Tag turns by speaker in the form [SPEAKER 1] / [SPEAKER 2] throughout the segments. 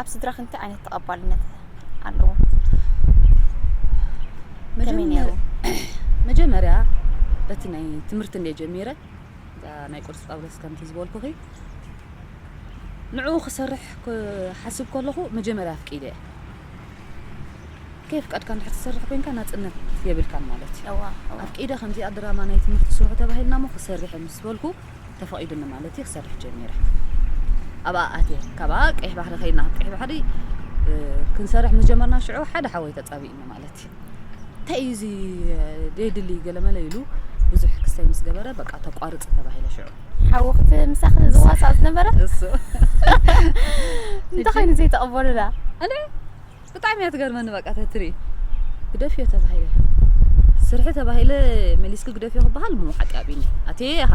[SPEAKER 1] ኣብ ስድራኺ እንታይ ዓይነት ተቐባልነት ኣለዎ? ከመይ ነይሩ?
[SPEAKER 2] መጀመርያ በቲ ናይ ትምህርቲ እንደ ጀሚረ እዛ ናይ ቅዱስ ጳውሎስ ከምቲ ዝበልኩኺ ንዕኡ ክሰርሕ ክሓስብ ከለኹ መጀመርያ ኣፍቂደ እየ ከየፍቀድካ እንድሕር ትሰርሕ ኮንካ ናፅነት የብልካን ማለት እዩ ኣፍቂደ ከምዚኣ ድራማ ናይ ትምህርቲ ስርሑ ተባሂልና ሞ ክሰርሕ ምስ በልኩ ተፈቒዱኒ ማለት እዩ ክሰርሕ ጀሚረ ኣብኣ ኣትየ ካብኣ ቀይሕ ባሕሪ ከይድና ካብ ቀይሕ ባሕሪ ክንሰርሕ ምስ ጀመርና ሽዑ ሓደ ሓወይ ተፃቢእኒ ማለት እዩ እንታይ እዩ እዚ ደይድሊ ገለመለ ኢሉ ብዙሕ ክሰይ ምስ ገበረ በቃ ተቋርፅ ተባሂለ ሽዑ ሓወኽቲ
[SPEAKER 1] ምሳኺ ዝዋሳእ ዝነበረ እሱ
[SPEAKER 2] እንታይ
[SPEAKER 1] ኮይኑ ዘይተቐበሉላ
[SPEAKER 2] ብጣዕሚ እያ ትገርመኒ በቃ ተትሪ ግደፍዮ ተባሂለ ስርሒ ተባሂለ መሊስኪ ግደፍዮ ክበሃል እሞ ሓቂ ኣቢኒ ኣትየ ኢኻ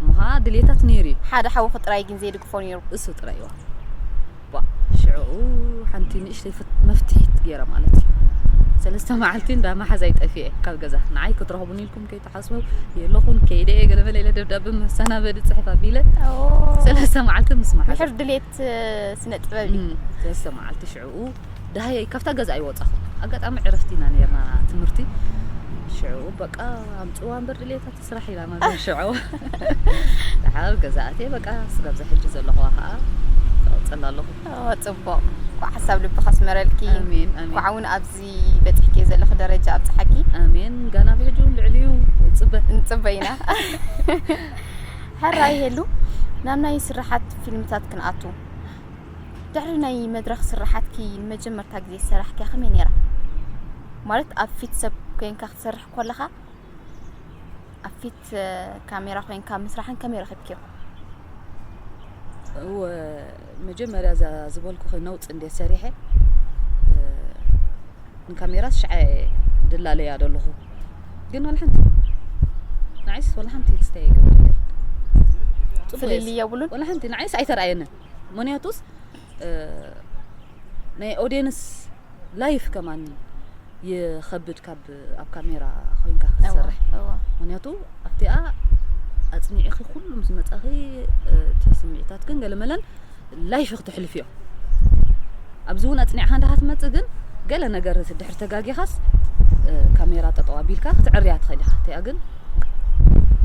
[SPEAKER 2] እሞኻ ድልየታት ነይሩ እዩ ሓደ ሓውኺ ጥራይ ግን
[SPEAKER 1] ዘይድግፎ ነይሩ እሱ ጥራይ እዋ
[SPEAKER 2] ዋ ሽዑ ሓንቲ ንእሽተይ መፍትሒት ገይረ ማለት እዩ ሰለስተ መዓልቲ እንዳ መሓዛይ ጠፊኤ ካብ ገዛ ንዓይ ክትረኽቡን ኢልኩም ከይትሓስቡ የለኹን ከይደ እየ ገለመለ ኢለ ደብዳበ መሰናበዲ ፅሕፍ ኣቢለ ሰለስተ መዓልቲ ምስ መሓዘ ዓይነት
[SPEAKER 1] ስነ ጥበብ እዩ ሰለስተ መዓልቲ
[SPEAKER 2] ሽዕኡ ዳሃየይ ካብታ ገዛ ኣይወጻኹ ኣጋጣሚ ዕረፍቲ ኢና ነርና ትምህርቲ ሽዑ በቃ ኣምፅዋ እምበር ድሌታት ስራሕ ኢላ ማለት ሽዑ ድሓር ገዛእቴ በቃ ስጋብዛ ሕጂ ዘለኹዋ ከዓ ቀፅል ኣለኹ ፅቡቅ
[SPEAKER 1] ኳዕ ሓሳብ ልቢ ከስመረልኪ ኣሜን ኣሜን ኳዕ እውን
[SPEAKER 2] ኣብዚ
[SPEAKER 1] በፂሕኪ ዘለኺ ደረጃ ኣብፅሓኪ ኣሜን ጋና ብሕጂ
[SPEAKER 2] እውን ልዕሊኡ ፅበ ንፅበ
[SPEAKER 1] ኢና ሕራይ ሄሉ ናብ ናይ ስራሓት ፊልምታት ክንኣቱ ድሕሪ ናይ መድረኽ ስራሓትኪ ንመጀመርታ ግዜ ዝሰራሕኪያ ከመይ ነይራ? ማለት ኣብ ፊት ሰብ ኮንካ ክትሰርሕ ኮለኻ ኣብ ፊት ካሜራ ኮንካ ምስራሕን ከመይ ረኺብኪዮ?
[SPEAKER 2] መጀመርያ እዛ ዝበልኩኺ ነውፂ እንዴት ሰሪሐ ንካሜራስ ሽዓ ድላለያ ደለኹ ግን ዋላ ሓንቲ ንዓይስ ዋላ ሓንቲ ትስተያ ይገብረለይ
[SPEAKER 1] ፍልል የብሉን ዋላ ሓንቲ ንዓይስ
[SPEAKER 2] ኣይተረኣየንን ምክንያቱስ ናይ ኦዲየንስ ላይፍ ከማን ይኸብድ ካብ ኣብ ካሜራ ኮይንካ ክትሰርሕ ምክንያቱ ኣብቲኣ ኣጽኒዕኺ ኩሉ ምስ መጻኺ እቲ ስምዒታት ግን ገለመለን ላይፍ ክትሕልፍዮ ኣብዚ እውን ኣጽኒዕካ እንዳ ክትመጽእ ግን ገለ ነገር ድሕሪ ተጋጊኻስ ካሜራ ጠጠው ኣቢልካ ክትዕርያ ትኽእል ኢኻ እቲኣ ግን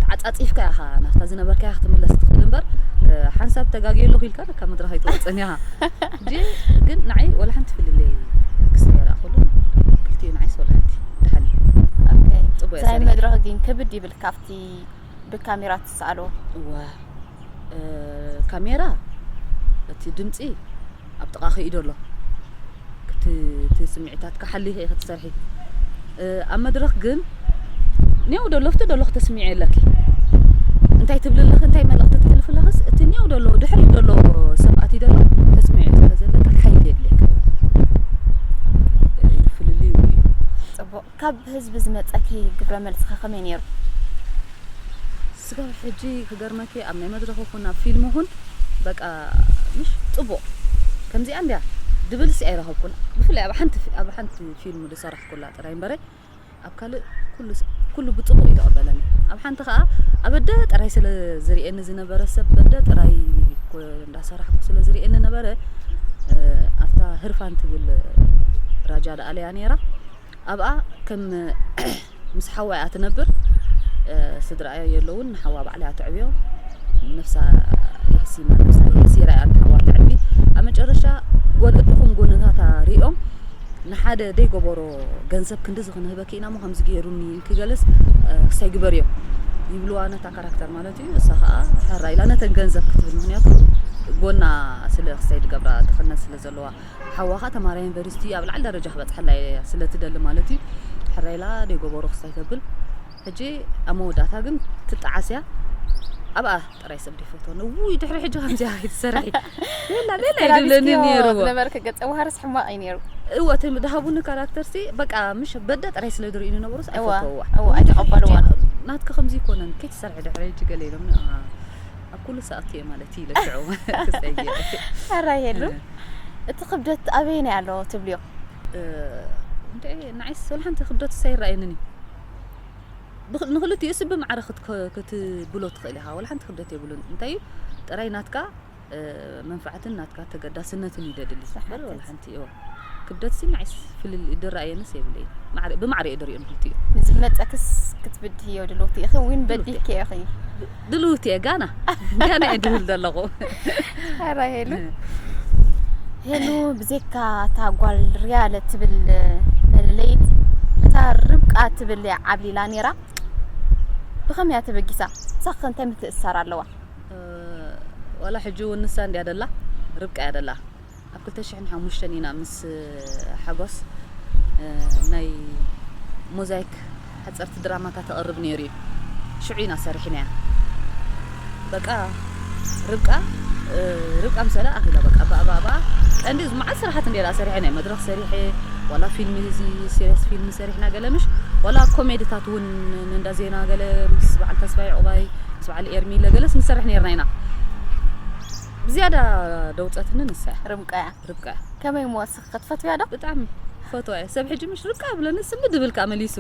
[SPEAKER 2] ተዓጻጺፍካ ኢኻ ናብታ ዝነበርካያ ክትምለስ ትኽእል እምበር ሓንሳብ ተጋግየ ኣለኹ ኢልካ ካብ መድረኽ ኣይትወጽእን ኢኻ ግን ንዓይ ወላ ሓንቲ ፍልልይ ክስተ ይረኣኹሉ ክልቲኡ ንዓይስ ወላ ሓንቲ ድሓን እዩ
[SPEAKER 1] ሳይ መድረኽ ግን ክብድ ይብል ካብቲ ብካሜራ ትሰኣሎ እወ
[SPEAKER 2] ካሜራ እቲ ድምጺ ኣብ ጥቓኺ ኢዶ ኣሎ እቲ ስምዒታት ክሓሊ ኢኺ ትሰርሒ ኣብ መድረኽ ግን ኔው ደሎፍቲ ደሎ ክተስሚዒ ኣለኪ እንታይ ትብሊ ኣለኺ እንታይ መልእኽቲ ትሕልፊ ኣለኽስ እቲ ኔው ደሎ ድሕሪ ደሎ ሰብኣት እዩ ደሎ ተስሚዒ ስለዘለኪ ሓይሊ የድልየካ እዩ ፍልልዩ እዩ ጽቡቕ
[SPEAKER 1] ካብ ህዝቢ ዝመጸኪ ግብረ መልስከ ከመይ ኔሩ? ስጋብ
[SPEAKER 2] ሕጂ ክገርመኪ ኣብ ናይ መድረኽ ይኹን ኣብ ፊልም ይኹን በቃ ምሽ ጽቡቕ ከምዚኣ እንድያ ድብልሲ ኣይረኸብኩን ብፍላይ ኣብ ሓንቲ ኣብ ሓንቲ ፊልም ዝሰራሕኩላ ጥራይ እምበረ ኣብ ካልእ ኩሉ ኩሉ ብጽቡቕ እዩ ተቐበለኒ ኣብ ሓንቲ ከኣ ኣብ ኣደ ጥራይ ስለ ዝርእየኒ ዝነበረ ሰብ በደ ጥራይ እንዳሰራሕኩ ስለ ዝርእየኒ ነበረ ኣብታ ህርፋን ትብል ራጃ ደኣለያ ነይራ ኣብኣ ከም ምስ ሓዋ እያ ትነብር ስድራኣዮ የለውን ንሓዋ ባዕላ እያ ተዕብዮ ነፍሳ የሕሲማ ነፍሳ የሕሲራ እያ ንሓዋ ተዕቢ ኣብ መጨረሻ ጎን እድኹም ጎንታታ ሪኦም ንሓደ ደይገበሮ ገንዘብ ክንዲዚ ክንህበኪ ኢና እሞ ከምዚ ገይሩኒ ክገለስ ክሳይ ግበርዮ ይብልዋ ነታ ካራክተር ማለት እዩ እሳ ከዓ ሓራ ኢላ ነተን ገንዘብ ክትብል ምክንያቱ ጎና ስለ ክሳይ ድገብራ ተኸነን ስለ ዘለዋ ሓዋኻ ተማራይ ዩኒቨርሲቲ ኣብ ላዕሊ ደረጃ ክበጽሐላ ኢያ ስለ ትደሊ ማለት ኢዩ ሕራይ ኢላ ደይ ጎቦሩ ክሳይ ተብል ሕጂ ኣብ መወዳእታ ግን ትጣዓስ ኢያ ኣብኣ ጥራይ ሰብ ደይፈትወኒ እውይ ድሕሪ ሕጂ ከምዚኣ ኣይትሰርሒ ቤላ ቤላ እዩ ዝብለኒ ነይሩ ዝነበርክ ገጸ ባህርስ
[SPEAKER 1] ሕማቕ እዩ ነይሩ እወ እቲ ድሃቡኒ
[SPEAKER 2] ካራክተርሲ በቃ ምሽ በደ ጥራይ ስለ ዝርእዩ ዝነበሩስ ኣይፈተውዋ
[SPEAKER 1] ኣይተቐበልዋ ናትኪ ከምዚ ይኮነን
[SPEAKER 2] ከይትሰርሒ ድሕሪ ሕጂ ገለ ኢሎምኒ ኣብ ኩሉ ሰኣቱ እየ ማለት እዩ ለሽዑ ክፀይቅ ኣራ ይሄሉ
[SPEAKER 1] እቲ ክብደት ኣበይ ናይ ኣሎ ትብልዮ
[SPEAKER 2] እንደ ንዓይስ ወላ ሓንቲ ክብደት ሳይረኣየንን እዩ ንክልቲኡ ስብ ማዕረ ክትብሎ ትኽእል ኢኻ ወላ ሓንቲ ክብደት የብሉን እንታይ እዩ ጥራይ ናትካ መንፋዓትን ናትካ ተገዳስነትን እዩ ደድሊ በር ወላ ሓንቲ ክልቲኦ ክብደትሲ ናይስ ፍልልይ ድራየንስ የብለይን ማዕረ ብማዕረ እየ ድሪኦም ክልቲኦ። ንዝመጸክስ
[SPEAKER 1] ክትብድህዮ ድልውቲ ኢኺ ዊን በዲህኪ ኢኺ። ድልውቲ እየ
[SPEAKER 2] ጋና ጋና እየ ድብል ዘለኹ። ኣራ
[SPEAKER 1] ሄሉ ሄሉ ብዘካ እታ ጓል ርያለ ትብል መለለይት እታ ርብቃ ትብል እያ ዓብሊላ ነይራ ብኸመይ እያ ተበጊሳ ሳኸ እንታይ ምትእስሳር ኣለዋ
[SPEAKER 2] ወላ ሕጂ እውን ንሳ እንድያ ደላ ርብቃ እያ ደላ ኣብ ክልተ ሽሕን ሓሙሽተን ኢና ምስ ሓጎስ ናይ ሞዛይክ ሓጸርቲ ድራማታት ተቕርብ ነይሩ እዩ ሽዑ ኢና ሰሪሕናያ በቃ ርብቃ ርብቃ ምሰላ ኣኺላ በቃ ባእባእባ ቀንዲ መዓት ስራሓት እንዴራ ሰሪሐ ናይ መድረኽ ሰሪሐ ዋላ ፊልም እዚ ሲሪየስ ፊልም ሰሪሕና ገለ ምሽ ዋላ ኮሜድታት እውን እንዳ ዜና ገለ ምስ በዓል ተስፋይ ዕቑባይ ምስ በዓል ኤርሚለ ገለስ ንሰርሕ ነርና ኢና ብዝያዳ ደውጸትኒ ንሳ እያ ርብቃ እያ ርብቃ እያ
[SPEAKER 1] ከመይ እሞ እስኺ ክትፈትውያ ዶ ብጣዕሚ ፈትዋ
[SPEAKER 2] እየ ሰብ ሕጂ ምሽ ርብቃ ብለኒ ስሚ ድብል ከኣ መሊሱ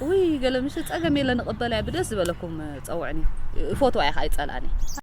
[SPEAKER 2] ውይ ገለ ምሽ ጸገም የለ ንቕበላ እያ ብደስ ዝበለኩም ጸውዕኒ ፈትዋ እየ ከኣ ይጸልኣኒ እየ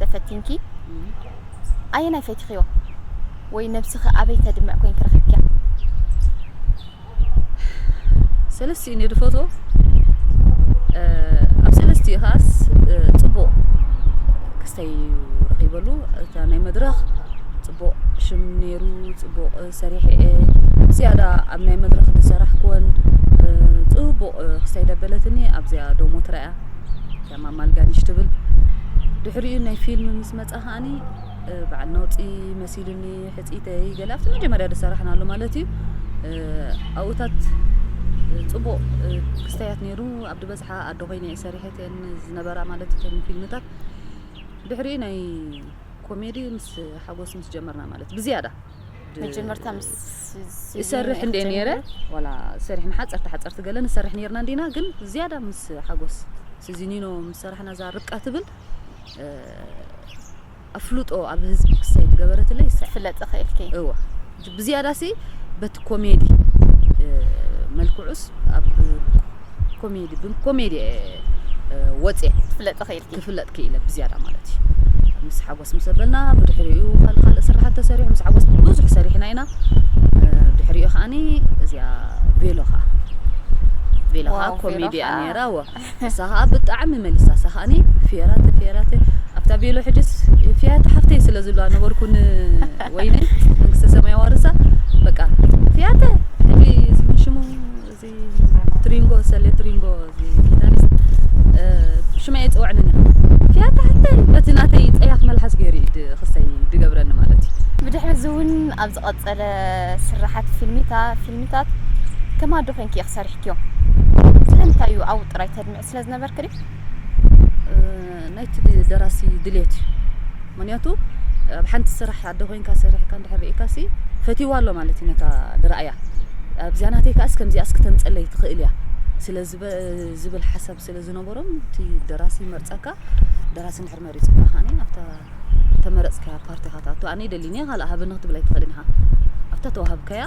[SPEAKER 1] ተፈቲንኪ ኣየናይ ፈቲኽዮ ወይ ነብስኺ ኣበይ ተድምዕ ኮይንኪ ረኺብክያ?
[SPEAKER 2] ሰለስቲኡ እየ ድፈትዎ ኣብ ሰለስቲኡ ከዓስ ፅቡቕ ክስተይ ረኺበሉ እታ ናይ መድረኽ ፅቡቕ ሽም ነይሩ ፅቡቕ ሰሪሐ እየ ዝያዳ ኣብ ናይ መድረኽ ዝሰራሕክወን ፅቡቕ ክስተይ ደበለትኒ ኣብዚኣ ዶሞ ትረኣያ ዕማም ኣልጋኒሽ ትብል ድሕሪኡ ናይ ፊልም ምስ መጻ ከኣኒ በዓል ነውጺ መሲሉኒ ሕጺተይ ገለ ኣብቲ መጀመርያ ዝሰራሕናሉ ማለት እዩ ኣብኡታት ፅቡቕ ክስተያት ነይሩ ኣብ ድበዝሓ ኣዶ ኮይነ እየ ሰሪሐት እየን ዝነበራ ማለት እተን ፊልምታት ድሕሪኡ ናይ ኮሜዲ ምስ ሓጎስ ምስ ጀመርና ማለት ብዝያዳ መጀመርታ
[SPEAKER 1] ምስ ይሰርሕ
[SPEAKER 2] እንደ ነረ ዋላ ሰሪሕና ሓፀርቲ ሓፀርቲ ገለ ንሰርሕ ነርና እንዲና ግን ዝያዳ ምስ ሓጎስ ስዚኒኖ ምስ ሰራሕና እዛ ርብቃ ትብል ኣፍልጦ ኣብ ህዝቢ ክሳይድ ገበረትለይ ይሳ ፍለጥ ኽእልኪ
[SPEAKER 1] እወ
[SPEAKER 2] ብዝያዳ ሲ በቲ ኮሜዲ መልክዑስ ኣብ ኮሜዲ ብኮሜዲ ወፅየ ፍለጥ ኽእል ክፍለጥ ክኢለ ብዝያዳ ማለት እዩ ምስ ሓጎስ ምስ ኣበልና ብድሕሪኡ ካልእ ካልእ ስራሓት ተሰሪሑ ምስ ሓጎስ ብዙሕ ሰሪሕና ኢና ድሕሪኡ ከዓኒ እዚያ ቬሎ ከዓ ቬሎ ከዓ ኮሜድያ ነይራ ወ እሳ ከዓ ብጣዕሚ መሊሳ እሳ ከዓኒ ፌራተ ፌራተ ኣብታ ቬሎ ሕጅስ ፊያተ ሓፍተይ ስለ ዝብላ ነበርኩን ወይነ መንግስተ ሰማይ ዋርሳ በቃ ፊያተ ሕጂ ዝመሽሙ ትሪንጎ ሰሌ ትሪንጎ ጊታሪስት ሽመይ ኣይፅወዕንን እያ ፊያታ ሓተይ በቲ ናተይ ፀያፍ መልሓስ ገይሩ እዩ ክሰይ ድገብረኒ ማለት እዩ ብድሕሪ እዚ እውን
[SPEAKER 1] ኣብ ዝቐፀለ ስራሓት ፊልሚታ ፊልሚታት ከማዶ ኮንኪ ኢኺ ሰሪሕኪዮም ስለምንታይ እዩ ኣብኡ ጥራይ ተድምዒ ስለ ዝነበርክ ድዩ
[SPEAKER 2] ናይቲ ደራሲ ድሌት እዩ ምክንያቱ ኣብ ሓንቲ ስራሕ ኣደ ኮይንካ ሰሪሕካ እንድሕር ርኢካሲ ፈትይዋ ኣሎ ማለት እዩ ነታ ድራእያ ኣብዚኣ ናተይ ከኣስ ከምዚኣስ ክተምፀለይ ትኽእል እያ ስለ ዝብል ሓሳብ ስለ ዝነበሮም እቲ ደራሲ መርፀካ ደራሲ እንድሕር መሪጹካ ከኣ ናብታ እተመረጽካያ ፓርቲ ኢኻ ትኣቱ ኣነ ይደሊኒ ካልእ ሃበኒ ክትብል ኣይትኽእልን ኢኻ ኣብታ ተዋህብካያ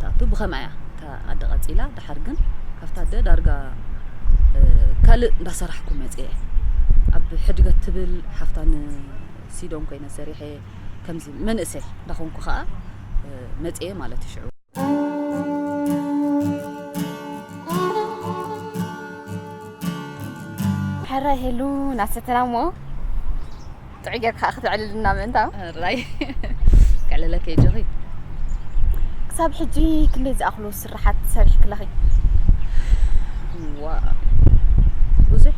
[SPEAKER 2] ትኣቱ ብኸምኣ እያ እታ ኣደ ቀጺላ ድሓር ግን ካብታ ኣደ ዳርጋ ካልእ እንዳሰራሕኩ መጽኤ ኣብ ሕድገት ትብል ሓፍታ ንሲዶን ኮይነ ሰሪሐ ከምዚ መንእሰይ እንዳኾንኩ ከኣ መጽኤ ማለት እዩ ሽዑ
[SPEAKER 1] ሕራይ ሄሉ ናብ ሰተና እሞ ጥዑይ ጌርካ ክትዕልልና ምእንታው ሕራይ
[SPEAKER 2] ከዕልለኪ ጆኺ
[SPEAKER 1] ክሳብ ሕጂ ክንደይ ዝኣኽሉ ስራሓት ሰሪሕክለኺ
[SPEAKER 2] ዋ ብዙሕ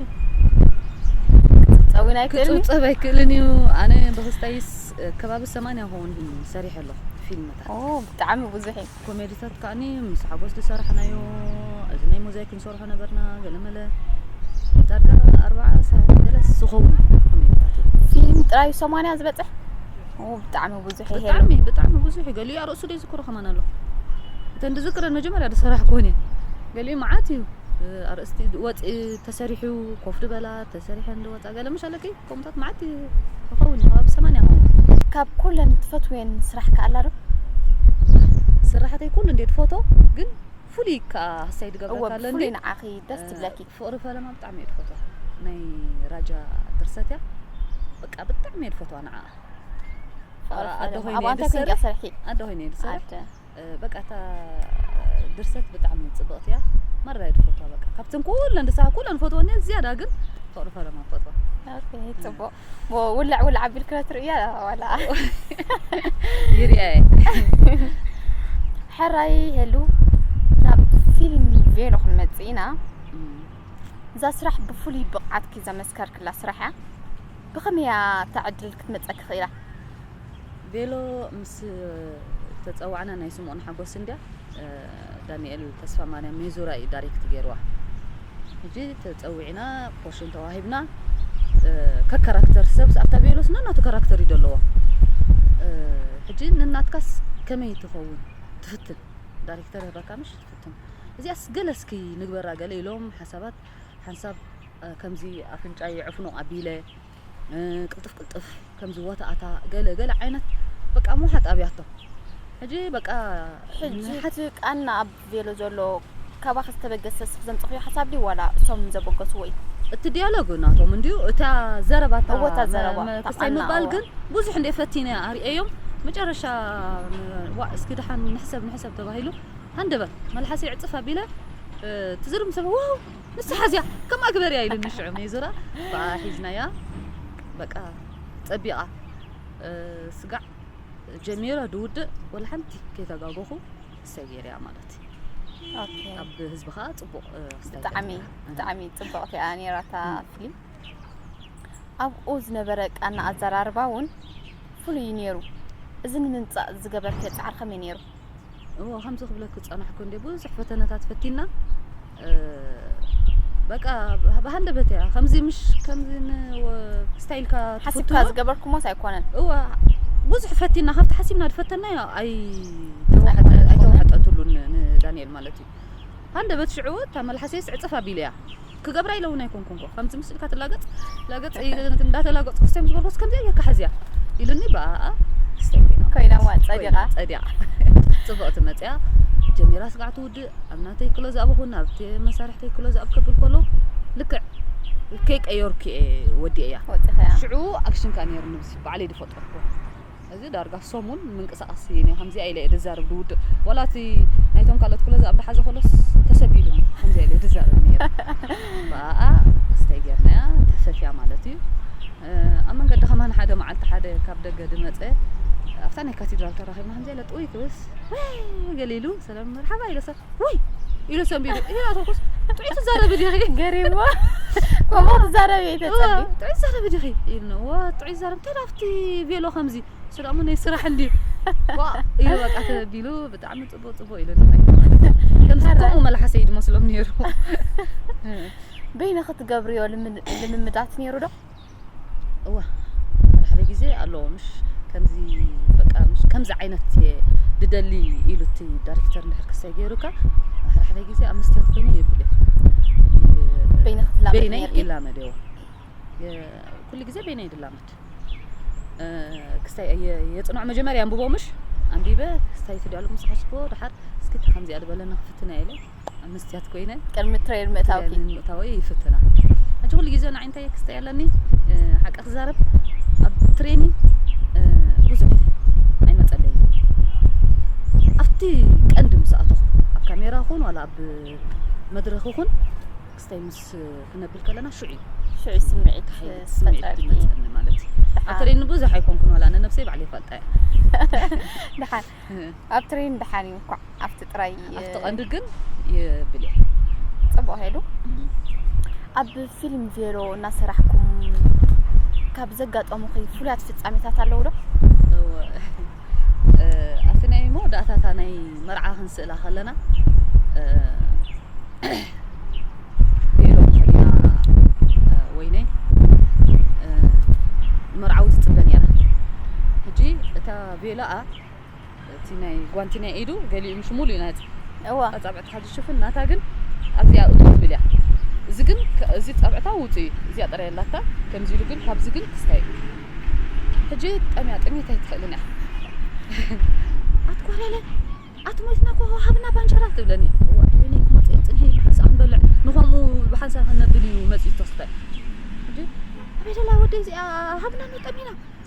[SPEAKER 1] ክፅብፀብ
[SPEAKER 2] ውን ኣይክእልን ክፅብፀብ ኣይክእልን
[SPEAKER 1] እዩ ኣነ
[SPEAKER 2] ብክስታይስ ከባቢ ሰማንያ ኸውን ሰሪሐ ኣለኹ ፊልም ኡው ብጣዕሚ ብዙሕ
[SPEAKER 1] እዩ። ኮሜድታት ከኣኒ
[SPEAKER 2] ምስ ሓጎስ ዝሰራሕናዮ እዚ ናይ ሞዛይክ ክንሰርሖ ነበርና ገለመለ ዳርጋ ኣርባዓ ሰዓት ገለስ ዝኸውን እዩ ኮሜድታት እዩ። ፊልም ጥራዩ
[SPEAKER 1] ሰማንያ ዝበጽሕ ኡው ብጣዕሚ ብዙሕ እዩ ሄሉ። ብጣዕሚ ብጣዕሚ ብዙሕ
[SPEAKER 2] እዩ ገሊኡ ኣርእሱ ዘይዝክሮ ከማን ኣሎ እተን ዝዝክረን መጀመርያ ዝሰራሕክወን እየን ገሊኡ መዓት እዩ እ፣ ኣርእስቲ ወጽኢ ተሰሪሑ ኮፍ ድበላ ተሰሪሐን ዝወጻ ገለ ምሽ ኣለኪ ከምኡታት መዓት ይኸውን ከባቢ ሰማንያ ይኸውን። ካብ ኩለን
[SPEAKER 1] ትፈትውየን ስራሕ ከ ኣላ ዶ?
[SPEAKER 2] ስራሓተይ ኩሉ እንዴ ድፎቶ ግን ፍሉይ ከኣ ሃሳይ ድገብረካ ኣለኒ ፍሉይ ንዓኺ ደስ
[SPEAKER 1] ትብለኪ ፍቕሪ ፈለማ ብጣዕሚ
[SPEAKER 2] እየ ድፈትዋ ናይ ራጃ ድርሰት እያ በቃ ብጣዕሚ እየ ድፈትዋ ንዓኣ ኣደ ኮይነ እየ ድሰርሕ ኣደ ኮይነ እየ ድሰርሕ በቃ እታ ድርሰት ብጣዕሚ ጽብቕቲ እያ መራ እየ ዝፈትዋ በቃ ካብተን ኩለን ድሳብ ኩለን ዝፈትወን እየ ዝያዳ ግን ፍቕሪ ፈለማ ፈትዋ ኦኬ
[SPEAKER 1] ጽቡቅ ውልዕ ውልዕ ኣቢልክለ ትርእያ ዋላ
[SPEAKER 2] ይርያ እየ
[SPEAKER 1] ሕራይ ሄሉ ናብ ፊልም ቬሎ ክንመጽእ ኢና እዛ ስራሕ ብፍሉይ ብቕዓትኪ ዘመስከርክላ ስራሕ እያ ብኸመይ እያ እታ ዕድል ክትመጸኪ ክኢላ
[SPEAKER 2] ቬሎ ምስ ተጸዋዕና ናይ ስምኦን ሓጎስ እንድያ ዳንኤል ተስፋማርያም ሜዙራ እዩ ዳይሬክት ገይርዋ ሕጂ ተጸዊዕና ፖርሽን ተዋሂብና ከካራክተር ሰብስ ኣብታ ቬሎስ ነናቱ ካራክተር እዩ ዘለዎ ሕጂ ንናትካስ ከመይ ትኸውን ትፍትን ዳይሬክተር ይህበካ ምሽ ትፍትን እዚኣስ ገለ እስኪ ንግበራ ገለ ኢሎም ሓሳባት ሓንሳብ ከምዚ ኣፍንጫ ይዕፍኖ ኣቢለ ቅልጥፍ ቅልጥፍ ከምዚ ወታኣታ ገለ ገለ ዓይነት በቃ ምውሓጥ ኣብያቶ ሕጂ በቃ ሕጂ ሓቲ
[SPEAKER 1] ቃና ኣብ ቬሎ ዘሎ ካባኺ ዝተበገሰ ስኽ ዘምጽኽዮ ሓሳብ ድዩ ዋላ እሶም ዘበገስዎ እዩ እቲ ዲያሎግ
[SPEAKER 2] ናቶም እንድዩ እታ ዘረባ እታ እወ፣ እታ ዘረባ፣ መ- እታ
[SPEAKER 1] ክሳይ ቃና፣ ምባል እወ። ግን
[SPEAKER 2] ብዙሕ እንደ ፈቲነ ኣርእየዮም መጨረሻ ም- ዋ እስኪ ድሓን ንሕሰብ ንሕሰብ ተባሂሉ ሃንደበት መልሓሰይ ዕፅፍ ኣቢለ እ፣ ትዝርም ሰብ ዋው ንሳ ሓዝያ ከምኣ ግበርያ ኢሉኒ ሽዑ ሜዙራ ብኣ ሒዝናያ በቃ ጸቢቓ ስጋዕ ጀሚረ ድውድእ ወላ ሓንቲ ከይተጋገኹ እሰይ ገይርያ ማለት እዩ
[SPEAKER 1] ኣብ ህዝቢ
[SPEAKER 2] ከዓ ፅቡቅ ብጣዕሚ
[SPEAKER 1] ብጣዕሚ ፅቡቅቲ እያ ነይራታ ፊልም ኣብኡ ዝነበረ ቃና ኣዘራርባ እውን ፍሉይ እዩ ነይሩ እዚ ንምምፃእ ዝገበርከ ፃዕሪ ከመይ ነይሩ እዎ ከምዚ
[SPEAKER 2] ክብለኪ ዝጸናሕኩ እንዴ ብዙሕ ፈተነታት ፈቲና በቃ ብሃንደበት እያ ከምዚ ምሽ ከምዚ ስታይልካ ሓሲብካ
[SPEAKER 1] ዝገበርኩሞስ ኣይኮነን እዎ ብዙሕ
[SPEAKER 2] ፈቲና ካብቲ ሓሲብና ዝፈተናዮ ኣይተዋሕጠትሉን ንዳንኤል ማለት እዩ ሃንደበት ሽዑ እታ መልሓሰይስ ዕጽፍ ኣቢለ እያ ክገብራ ኢለ እውን ኣይኮንኩንኮ ከምዚ ምስ ኢልካ ትላገጽ ላገጽ እንዳተላገጽኩ ክሰይ ምስ በልኩስ ከምዚኣ ጌርካ ሕዝያ ኢሉኒ ብኣኣ ክሰይ ኮይና
[SPEAKER 1] ኮይናዋ ጸዲቓ ጸዲቓ ጽብቕቲ
[SPEAKER 2] መጽያ ጀሚራ ስጋዕ ትውድእ ኣብ ናተይ ክሎ ዝኣብ ኹን ኣብቲ መሳርሕተይ ክሎ ዝኣብ ከብል ከሎ ልክዕ ከይቀየርኩ እየ ወዲኤያ ሽዑ ኣክሽን ከኣ ነይሩ ንብዚ ባዕለይ ዝፈጠርኩ እዚ ዳርጋ ሰሙን ምንቅስቃስ ስኢነ ከምዚኣ ኢለ እየ ድዛረብ ድውድቅ ዋላ እቲ ናይቶም ካልኦት ኩሎ ዝኣብ ድሓዘ ኮሎስ ተሰቢሉኒ ከምዚኣ ኢለ ድዛረብ ነይረ ብኣኣ ስተይ ጌርናያ ተፈትያ ማለት እዩ ኣብ መንገዲ ከማን ሓደ መዓልቲ ሓደ ካብ ደገ ድመፀ ኣብታ ናይ ካቴድራል ተራኺብና ከምዚኣ ኢለ ጥውይ ክብልስ ገሊሉ መርሓባ ኢለሰ ወይ ኢለሰ ቢዱ ይሄ ኣቶኩስ ጥዑይ ትዛረቢ ዲኺ ገሪሞ
[SPEAKER 1] ከምኡ ትዛረቢ ተጸቢ ጥዑይ ትዛረቢ ዲኺ
[SPEAKER 2] ኢልነ ወ ጥዑይ ትዛረቢ እንታይ ዳፍቲ ቤሎ ከምዚ እሱ ደሞ ናይ ስራሕ እንዲ ኢሉ በቃ ተቢሉ ብጣዕሚ ጽቡቅ ጽቡቅ ኢሉ ከምዚ ከምኡ መልሓሰ እዩ ድመስሎም ነይሩ
[SPEAKER 1] በይነ ክትገብርዮ ልምምዳት ነይሩ ዶ እወ
[SPEAKER 2] ሓደ ሓደ ግዜ ኣለዎ ምሽ ከምዚ በቃ ምሽ ከምዚ ዓይነት እየ ድደሊ ኢሉ እቲ ዳይሬክተር እንድሕር ክሰይ ገይሩካ ሓደ ሓደ ግዜ ኣብ መስትያት ኮይኑ የብል
[SPEAKER 1] በይንኺ ትላመድ በይነይ ነይርኪ? ይላመድ እዎ
[SPEAKER 2] ኩሉ ግዜ በይነይ ድላመድ እ፣ ክስታይ የ- የጽንዖ መጀመርያ ኣንብቦ ምሽ ኣንቢበ ክስታይ ትድያሉ ምስ ሓስቦ ድሓር እስኪ እታ ከምዚኣ ድበለኒ ክፍትነ ኢለ ኣብ መስትያት ኮይነ ቅድሚ ትሬን ምእታውኪ
[SPEAKER 1] ትሬን ምእታወይ
[SPEAKER 2] ይፍትና ሕጂ ኩሉ ግዜ ንዓይ እንታይ ክስተ ኣለኒ ሓቂ ክዛረብ ኣብ ትሬኒ ብዙሕ ኣይመፀለይ ኣብቲ ቀንዲ ምስ ኣተኹ ኣብ ካሜራ ኹን ዋላ ኣብ መድረኽ ኹን ክስታይ ምስ ክነብል ከለና ሽዑ እዩ ሽዑ ስምዒት
[SPEAKER 1] ስምዒት
[SPEAKER 2] ድመፀኒ ማለት እዩ ኣብ ትሬኒ ብዙሕ ኣይኮንኩን ዋላ ንነብሰይ ባዕለይ ይፈልጣ እያ
[SPEAKER 1] ድሓን ኣብ ትሬን ደሓን እዩ እንኳዕ ኣብቲ ጥራይ ኣብቲ ቀንዲ ግን
[SPEAKER 2] ይብል ጽቡቅ
[SPEAKER 1] ሄዱ ኣብ ፊልም ቬሎ እናሰራሕኩም ካብ ዘጋጠሙኺ ፍሉያት ፍጻሜታት ኣለዉ ዶ ኣብቲ
[SPEAKER 2] ናይ መወዳእታታ ናይ መርዓ ክንስእላ ከለና ቬሎ ተኸዲና ወይነይ መርዓዊ ትፅበ ነይራ ሕጂ እታ ቤላኣ እቲ ናይ ጓንቲ ናይ ኢዱ ገሊኡ ምስ ሙሉእ ናጽ እዋ ኣጻብዕቲ ካብ ዝሽፍን ናታ ግን ኣብዚኣ እቱ ትብል እያ እዚ ግን እዚ ጸብዕታ ውጹ እዩ እዚኣ ጥራይ ኣላታ ከምዚ ኢሉ ግን ካብዚ ግን ክስታይ ሕጂ ጠምያ ጥሜት ኣይትኽእልን እያ ኣትኮለለ ኣትሞትና ኮ ሃብና ባንጀራ ትብለኒ እዋ ወይኒ ክመጽ ጽንሒ ብሓንሳ ክንበልዕ ንኸምኡ ብሓንሳ ክንነብል እዩ መጽዩ ተስፋይ ሕጂ ኣበደላ ወደይ እዚኣ ሃብና ኑ ጠሚና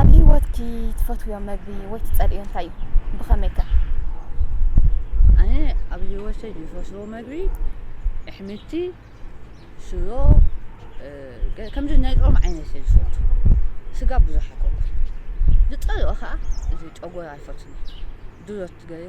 [SPEAKER 1] ኣብ ሂወትኪ ትፈትውዮ መግቢ ወይ ትጸልእዮ እንታይ እዩ? ብኸመይ ከ?
[SPEAKER 2] ኣነ ኣብ ሂወተይ ዝፈትዎ መግቢ ኣሕምልቲ፣ ሽሮ ከምዚ ናይ ጾም ዓይነት እየ ዝፈቱ። ስጋ ብዙሕ ኣይኮንኩን። ዝጸልኦ ከኣ እዚ ጨጎራ ኣይፈቱን እየ። ድሮ ትገርይ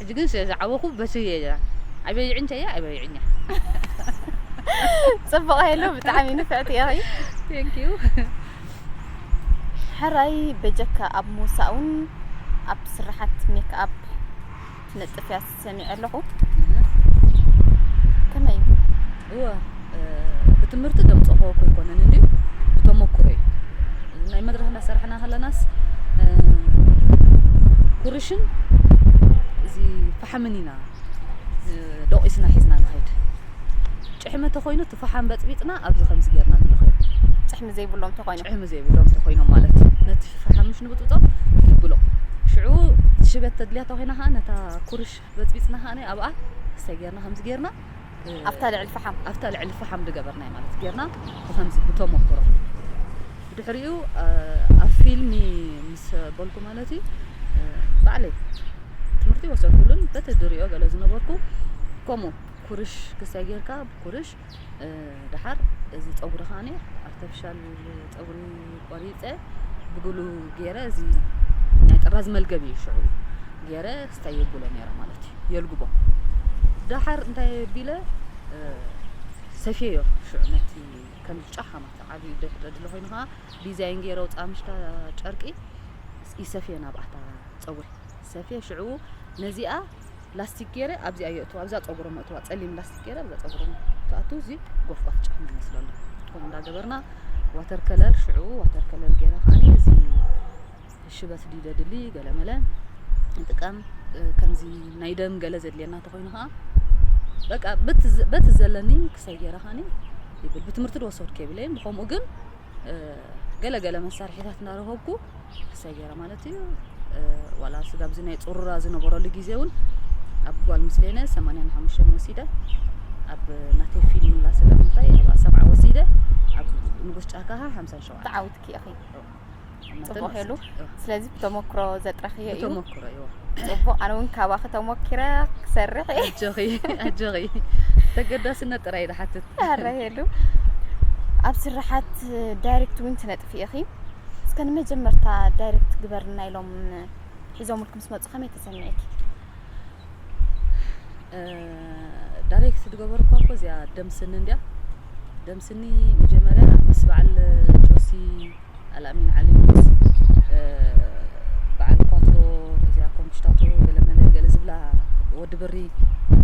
[SPEAKER 2] ሕጂ ግን ስለ ዝዓበኹ በትሪ እየ ድራር ኣይበይዕን እንተ እየ ኣይበይዕን እየ።
[SPEAKER 1] ጽቡቕ ሄሉ ብጣዕሚ ንፍዕቲ ኢኺ። Thank you። ሕራይ በጀካ ኣብ ምውሳእ እውን ኣብ ስራሓት ሜክኣፕ ትነጥፍ እያ ሰሚዐ ኣለኹ። ከመይ እዩ?
[SPEAKER 2] እወ ብትምህርቲ ደምጸኾ ኮይኮነን እንድዩ ብተሞኩሮ እዩ እዚ ናይ መድረኽ እንዳሰራሕና ከለናስ ኩርሽን እዚ ፋሓምን ኢና ዶቂስና ሒዝና ንኸይድ ጭሕሚ ተኾይኑ እቲ ፋሓም በጽቢጽና ኣብዚ ከምዚ ጌርና ንለኽዮ ጭሕሚ ዘይብሎም
[SPEAKER 1] ተኾይኖም ጭሕሚ ዘይብሎም ተኾይኖም
[SPEAKER 2] ማለት ነቲ ፋሓም ምሽ ንብጥብጦም ንብሎ ሽዑ ሽበት ተድልያ ተኾይና ከዓ ነታ ኩርሽ በጽቢጽና ከዓ ኣብኣ እሰይ ጌርና ከምዚ ጌርና ኣብታ ልዕሊ
[SPEAKER 1] ፈሓም ኣብታ ልዕሊ ፈሓም
[SPEAKER 2] ዝገበርናዮ ማለት ጌርና ብከምዚ ብተመክሮ ብድሕሪኡ ኣብ ፊልሚ ምስ በልኩ ማለት እዩ ባዕለይ ትምህርቲ ወሰድኩሉን በቲ ድሪኦ ገለ ዝነበርኩ ከምኡ ኩርሽ ክሳይ ጌርካ ኩርሽ ድሓር እዚ ፀጉሪ ከዓኒ ኣርተፍሻል ፀጉሪ ቆሪፀ ብግሉ ገይረ እዚ ናይ ጥራዝ መልገብ እዩ ሽዑ ገይረ ስታይ የብሎ ነይረ ማለት እዩ የልግቦ ዳሓር እንታይ ቢለ ሰፊዮ ሽዑ ነቲ ከም ጫኻ ማለት ዓብዩ ደድለ ኮይኑ ከዓ ዲዛይን ገይረ ውፃምሽካ ጨርቂ ይሰፍየ ናብኣታ ፀጉሪ ሰፍየ ሽዑ ነዚኣ ላስቲክ ገይረ ኣብዚኣ የእትዋ ኣብዛ ፀጉሮም የእትዋ ፀሊም ላስቲክ ገይረ ኣብዛ ፀጉሮም ትኣቱ እዚ ጎፍጓፍ ጫማ ይመስሎ ኣሎ ከምኡ እንዳገበርና ዋተር ከለል ሽዑ ዋተር ከለል ገይረ ከዓኒ እዚ ሽበት ድዩ ዘድሊ ገለመለ ንጥቀም ከምዚ ናይ ደም ገለ ዘድልየና እንተኮይኑ ከዓ በቃ በቲ ዘለኒ ክሰይ ገይረ ከዓኒ ይብል ብትምህርቲ ድወሰድኩ የብለይን ብከምኡ ግን ገለገለ መሳርሒታት እናረኸብኩ ክሰይ ገይረ ማለት እዩ ዋላ ስጋብ እዚ ናይ ፅሩራ ዝነበረሉ ግዜ እውን ኣብ ጓል ምስሌነ ሰማንያን ሓሙሽተን ወሲደ ኣብ ናተይ ፊልም ላ ስጋብ እንታይ ኣብ ሰብዓ ወሲደ ኣብ ንጉስ ጫካ ከዓ ሓምሳን ሸውዓተ ተዓዊትኪ ኢኺ
[SPEAKER 1] ፅቡቅ ኢሉ ስለዚ ብተመክሮ ዘጥረኽዮ እዩ ተመክሮ እዩ
[SPEAKER 2] ፅቡቅ ኣነ እውን
[SPEAKER 1] ካባኺ ተሞኪረ ክሰርሕ እየ ኣጆኺ
[SPEAKER 2] ኣጆኺ ተገዳስነት ጥራይ
[SPEAKER 1] ዝሓትት
[SPEAKER 2] ኣረ ሄሉ ኣብ
[SPEAKER 1] ስራሓት ዳይሬክት እውን ትነጥ ቲቪ ኢኺ እስከ ንመጀመርታ ዳይሬክት ግበርልና ኢሎም ሒዞምልኩም ምስ መጹ ከመይ ተሰሚዒኪ?
[SPEAKER 2] ዳይሬክት ዝገበርኳ እኮ እዚኣ ደም ስኒ እንዲያ ደም ስኒ መጀመርያ ምስ በዓል ጆሲ ኣልኣሚን ዓሊ ምስ በዓል ኳትሮ እዚኣ ኮምሽታቶ ገለመለ ገለ ዝብላ ወዲ ብሪ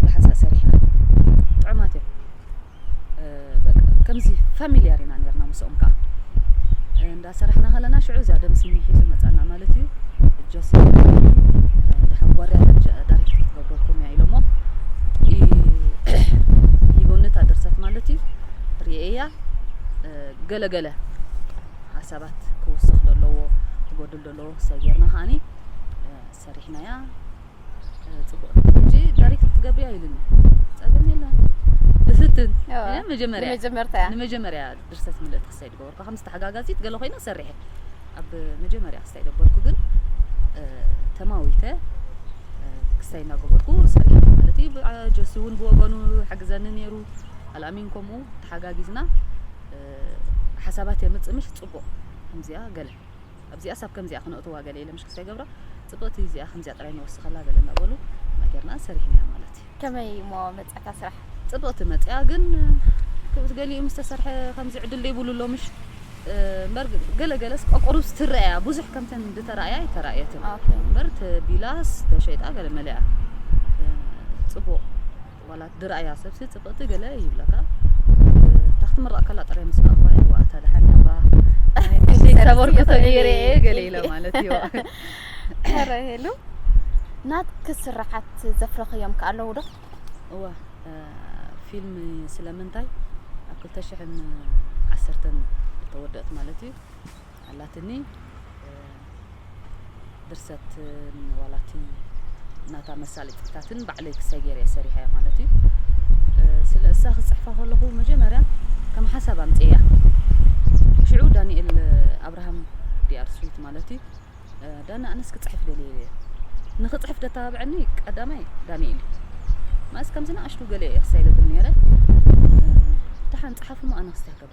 [SPEAKER 2] ብሓንሳእ ሰሪሕና ጥዑማት እዮም ከምዚ ፋሚልያር ኢና ነርና ምስኦም ከኣ እንዳ ሰራሕና ከለና ሽዑ እዚኣ ደም ስኒ ሒዙ መጻና ማለት እዩ ጆሲ ድሓን ጓርያ ዳሪክት ክትገብረኩም እያ ኢሎሞ ይቦንታ ድርሰት ማለት እዩ ርኤያ ገለገለ ሓሳባት ክውስኽ ደለዎ ክጎድል ደለዎ ክሰብ ጌርና ከዓኒ ሰሪሕናያ ጽቡቅ እንጂ ዳሪክት ክትገብሪ ኣይልን ጸገም የለን እፍትን መጀመርያ ንመጀመርታ ንመጀመርያ ድርሰት ምልእት ክሳይ ድገበርኩ ከም ዝተሓጋጋዚት ገለ ኮይና ሰሪሐ ኣብ መጀመርያ ክሳይ ደበርኩ ግን ተማዊተ ክሳይ እናገበርኩ ሰሪሐ ማለት እዩ ጀሲ እውን ብወገኑ ሓግዘኒ ነይሩ ኣልኣሚን ከምኡ ተሓጋጊዝና ሓሳባት የምፅእ ምሽ ፅቡቅ ከምዚኣ ገለ ኣብዚኣስ ኣብ ከምዚኣ ክነእትዋ ገለ ኢለ ምሽክስ ከይገብራ ጽብቕቲ እዚኣ ከምዚኣ ጥራይ ንወስኸላ ገለ እናበሉ ነገርና ሰሪሕናያ ማለት እዩ ከመይ እሞ
[SPEAKER 1] መጻእታ ስራሕ ጽብቕቲ መጽያ
[SPEAKER 2] ግን ክብት ገሊኡ ምስ ተሰርሐ ከምዚ ዕድል ዘይብሉ ኣሎ ምሽ እምበር ገለ ገለስ ቆቁሩብ ትረኣያ ብዙሕ ከምተን እንድተራእያ ኣይተራእየትን እምበር ቢላስ ተሸይጣ ገለ መለያ ጽቡቕ ዋላ ድርኣያ ሰብሲ ጽብቅቲ ገለ ይብለካ እታ ክትምረቅ ከላ ጥራይ ምስ ረኣኹዋ እየ ዋእ እታ ደሓን ያባ ክንደይ ተበርክቶ ገይረ እየ ገለ ኢለ ማለት እዩ ኧረ
[SPEAKER 1] ሄሉ ናትኪ ስርሓት ዘፍረኽዮም ከ ኣለዉ ዶ እወ
[SPEAKER 2] ፊልም ስለምንታይ ኣብ ክልተ ሽሕን ዓሰርተን ተወደእት ማለት እዩ ኣላትኒ ድርሰትን ዋላ እቲ ናታ መሳለጥታትን ባዕለይ ክሰይ ገይረ እየ ሰሪሐያ ማለት እዩ ስለ እሳ ክፅሕፋ ከለኹ መጀመርያ ከም ሓሳብ ኣምፅእያ ሽዑ ዳንኤል ኣብርሃም ዲኣር ስዊት ማለት እዩ ዳና ኣነስ ክፅሕፍ ደልየ እየ ንክፅሕፍ ደተባብዐኒ ቀዳማይ ዳንኤል እዩ ማእስ ከምዚ ንኣሽቱ ገለ እየ ክሳይ ደብል ነይረ ደሓን ፀሓፍሞ ኣነ ክስተህከበ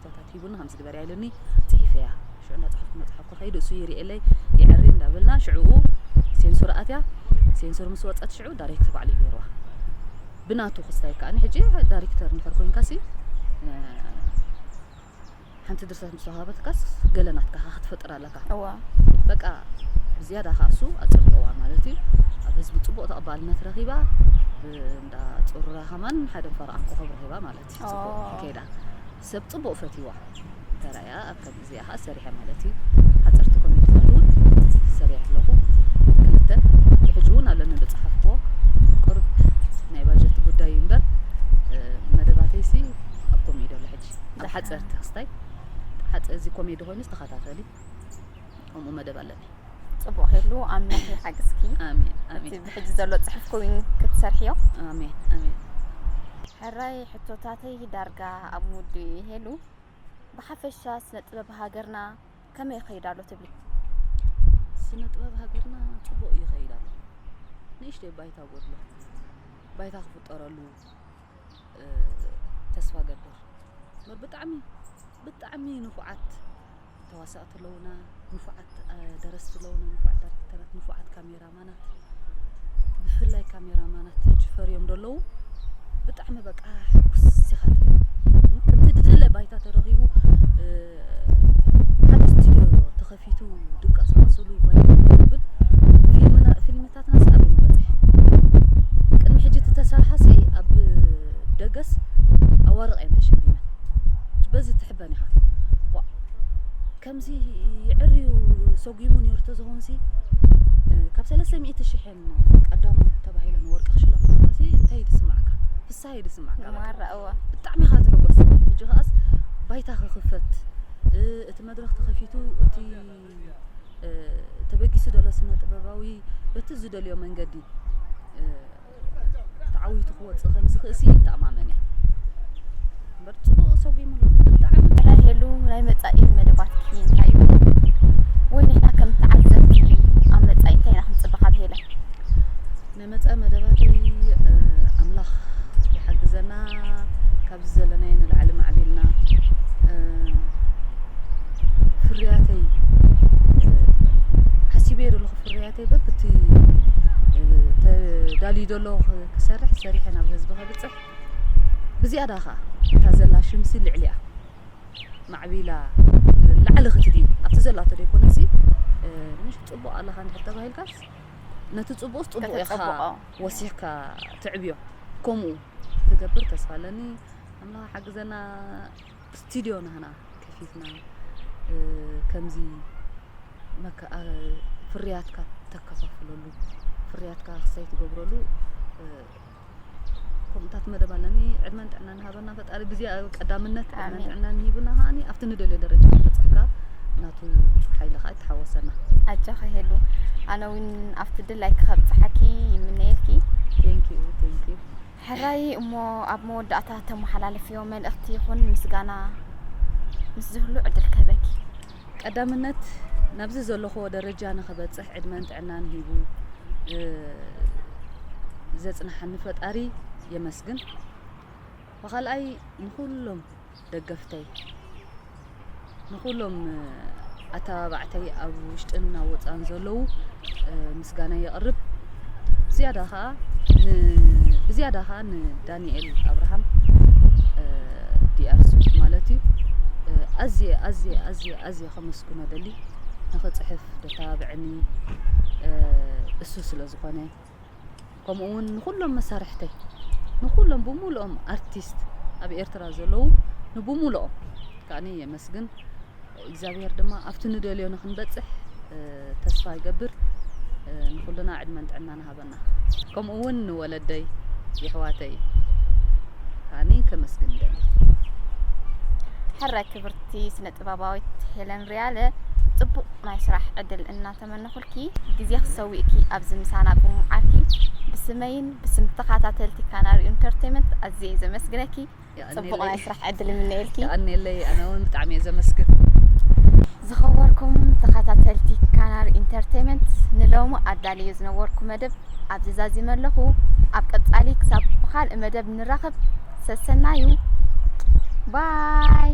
[SPEAKER 2] ሕቶታት ሂቡኒ ከምዚ ግበርያ ኢሉኒ ጽሒፈያ ሽዑ እንዳጻሓፍኩ እንዳጻሓፍኩ ከይዱ እሱ ይርእየለይ ይዕሪ እንዳበልና ሽዑኡ ሴንሱር ኣትያ ሴንሱር ምስ ወጸት ሽዑ ዳይሬክት ባዕሉ እዩ ገይርዋ ብናቱ ክስታይ ከዓኒ ሕጂ ዳይሬክተር እንድሕር ኮንካሲ ሓንቲ ድርሰት ምስ ወሃበትካስ ገለ ናትካ ክትፈጥር ኣለካ እዋ በቃ ብዝያዳ ከዓ እሱ ኣጸብቀዋ ማለት እዩ ኣብ ህዝቢ ጽቡቅ ተቐባልነት ረኺባ እንዳ ጹሩራ ከማን ሓደ ፈረቓን ኮኸብ ረኺባ ማለት እዩ ጽቡቅ ከይዳ ሰብ ጽቡቅ ፈትይዋ ተራእያ ኣብ ከም እዚኣ ከኣ ሰሪሐ ማለት እዩ ሓጸርቲ ኮሜንትታት እውን ሰሪሐ ኣለኹ ክልተ ብሕጂ እውን ኣለኒ ዝጸሓፍክዎ ቅሩብ ናይ ባጀት ጉዳይ እዩ እምበር መደባተይሲ ኣብ ኮሜዲ ኣሎ ሕጂ ኣብ ሓጸርቲ ክስታይ እዚ ኮሜዲ ኮይኑ ዝተኸታተሊ ከምኡ መደብ ኣለኒ ጽቡቅ ሄሉ
[SPEAKER 1] ኣምላኽ ይሓግዝኪ ኣሜን ኣሜን
[SPEAKER 2] ብሕጂ ዘሎ ጽሑፍ
[SPEAKER 1] ኮይኑ ክትሰርሕዮ ኣሜን ኣሜን ሕራይ ሕቶታተይ ዳርጋ ኣብ ሙዲ ሄሉ ብሓፈሻ ስነ ጥበብ ሃገርና ከመይ ይኸይድ ኣሎ ትብሊ
[SPEAKER 2] ስነ ጥበብ ሃገርና ጽቡቅ ይኸይድ ኣሎ ንእሽተይ ባይታ ጎድሎ ባይታ ክፍጠረሉ ተስፋ ገብር መር ብጣዕሚ ብጣዕሚ ንፉዓት ተዋሳእቲ ኣለውና፣ ንፉዓት ደረስቲ ኣለውና፣ ንፉዓት ኣርክተራት፣ ንፉዓት ካሜራማናት ብፍላይ ካሜራማናት ሕጂ ፈርዮም ደለዉ ብጣዕሚ በቃ ሕጉስ ኢኻ ከምቲ ድድለ ባይታ ተረኺቡ ሓደ ስቱድዮ ተኸፊቱ ፊቱ ድቀሱ ኣስሉ ባይቱ ብል ፊልምና ፊልምታትና ሰኣብ ይመበጽሕ ቅድሚ ሕጂ ተሰርሓሲ ኣብ ደገስ ኣዋርቕ እየን ተሸሊመን በዚ ትሕበን ኢኻ ከምዚ ይዕርዩ ሰጒሙ ነይሩ ተዝኾንሲ ካብ ሰለስተ ሚእቲ ሽሕን ቀዳሙ ተባሂለን ወርቂ ክሽለማ ከለዋሲ እንታይ ትስምዓካ እንታይ እዩ ዝስማዕካ ማራ እወ ብጣዕሚ ኢኻ ትሕጎስ ሕጂ ከኣስ
[SPEAKER 1] ባይታ
[SPEAKER 2] ክኽፈት እቲ መድረኽ ተኸፊቱ እቲ ተበጊሱ ዘሎ ስነ ጥበባዊ በቲ ዝደልዮ መንገዲ ተዓዊቱ ክወፅእ ከም ዝኽእሲ ይተኣማመን እየ እምበር ፅቡቕ ሰጒሙሉ ብጣዕሚ ናይ ሄሉ ናይ
[SPEAKER 1] መፃኢ መደባትኪ እንታይ እዩ ወይ ንሕና ከም ተዓዘብቲ ኣብ መፃኢ እንታይ ኢና ክንፅበ ካብ ሄለን
[SPEAKER 2] መጻኢ መደባተይ ኣምላኽ ይሓግዘና ካብዚ ዘለናዮ ንላዕሊ ማዕቢልና ፍርያተይ ሓሲበዮ ዘለኹ ፍርያተይ በብቲ ተዳልዩ ዘሎ ክሰርሕ ሰሪሐ ናብ ህዝቢ ከብፅሕ ብዝያዳ ከዓ እታ ዘላ ሽምሲ ልዕሊያ ማዕቢላ ላዕሊ ክትዲ ኣብቲ ዘላቶ ዘይኮነሲ ምሽ ፅቡቅ ኣለካ እንድሕር ተባሂልካስ ነቲ ጽቡቕስ ጽቡቕ ኢኻ ከተጸብቆ። ወሲኽካ ትዕብዮ ከምኡ ክገብር ተስፋ ኣለኒ ኣምላኽ ሓግዘና ስቱድዮ ናህና ከፊትና እ፣ ከምዚ መከ- ኣ- ፍርያትካ ተከፋፍለሉ ፍርያትካ ክሳይ ትገብረሉ እ፣ ከምኡታት መደብ ኣለኒ ዕድመን ጥዕናን ሃበና ፈጣሪ ግዜ ቀዳምነት ዕድመን ጥዕናን ሂቡና ከዓኒ ኣብቲ ንደልዮ ደረጃ ክንበፅሕካ ናቱ ሓይሊ ከዓ ይተሓወሰና ኣጃኺ ሄሉ
[SPEAKER 1] ኣነ እውን ኣብቲ ድላይ ክኸብፅሓኪ ይምነየልኪ ቴንኪዩ
[SPEAKER 2] ቴንኪዩ ሕራይ
[SPEAKER 1] እሞ ኣብ መወዳእታ ተመሓላለፍዮ መልእኽቲ ይኹን ምስጋና ምስ ዝህሉ ዕድል ክህበኪ ቀዳምነት
[SPEAKER 2] ናብዚ ዘለኹዎ ደረጃ ንኽበፅሕ ዕድመን ጥዕናን ሂቡ ዘፅንሓኒ ፈጣሪ የመስግን። ብኻልኣይ ንኹሎም ደገፍተይ ንኹሎም ኣተባባዕተይ ኣብ ውሽጥን ናብ ወፃን ዘለዉ ምስጋናይ የቕርብ። ዝያዳ ከኣ ን ብዝያዳ ከኣ ንዳኒኤል ኣብርሃም ዲኣር ስዊት ማለት እዩ ኣዝየ ኣዝየ ኣዝየ ኣዝየ ከመስግኖ ደሊ ንኽጽሕፍ ደተባብዐኒ እሱ ስለ ዝኾነ ከምኡ ውን ንኩሎም መሳርሕተይ ንኩሎም ብሙሉኦም ኣርቲስት ኣብ ኤርትራ ዘለዉ ንብሙሉኦም ከዓኒ የመስግን እግዚኣብሄር ድማ ኣብቲ ንደልዮ ንክንበጽሕ ተስፋ ይገብር ንኩልና ዕድመን ጥዕናን ሃበና ከምኡ ውን ንወለደይ የሕዋተይ ኣኒ ከመስግን ደሊ ሕራይ
[SPEAKER 1] ክብርቲ ስነ ጥበባዊት ሄለን ሪያለ ጽቡቅ ናይ ስራሕ ዕድል እና ዝተመነኹልኪ ግዜኺ ሰዊእኪ ኣብዚ ምሳና ብምውዓልኪ ብስመይን ብስም ተኸታተልቲ ካናሪ ኢንተርቴመንት ኣዝየ ዘመስግነኪ ጽቡቕ ናይ ስራሕ ዕድል ይምነየልኪ። የቐኔለይ ኣነ እውን
[SPEAKER 2] ብጣዕሚ እየ ዘመስግን።
[SPEAKER 1] ዝኸበርኩም ተኸታተልቲ ካናሪ ኢንተርቴመንት ንሎሚ ኣዳልዮ ዝነበርኩ መደብ ኣብዚ ዛዚመ ኣለኹ። ኣብ ቀጻሊ ክሳብ ብኻልእ መደብ ንራኸብ ሰሰናዩ ባይ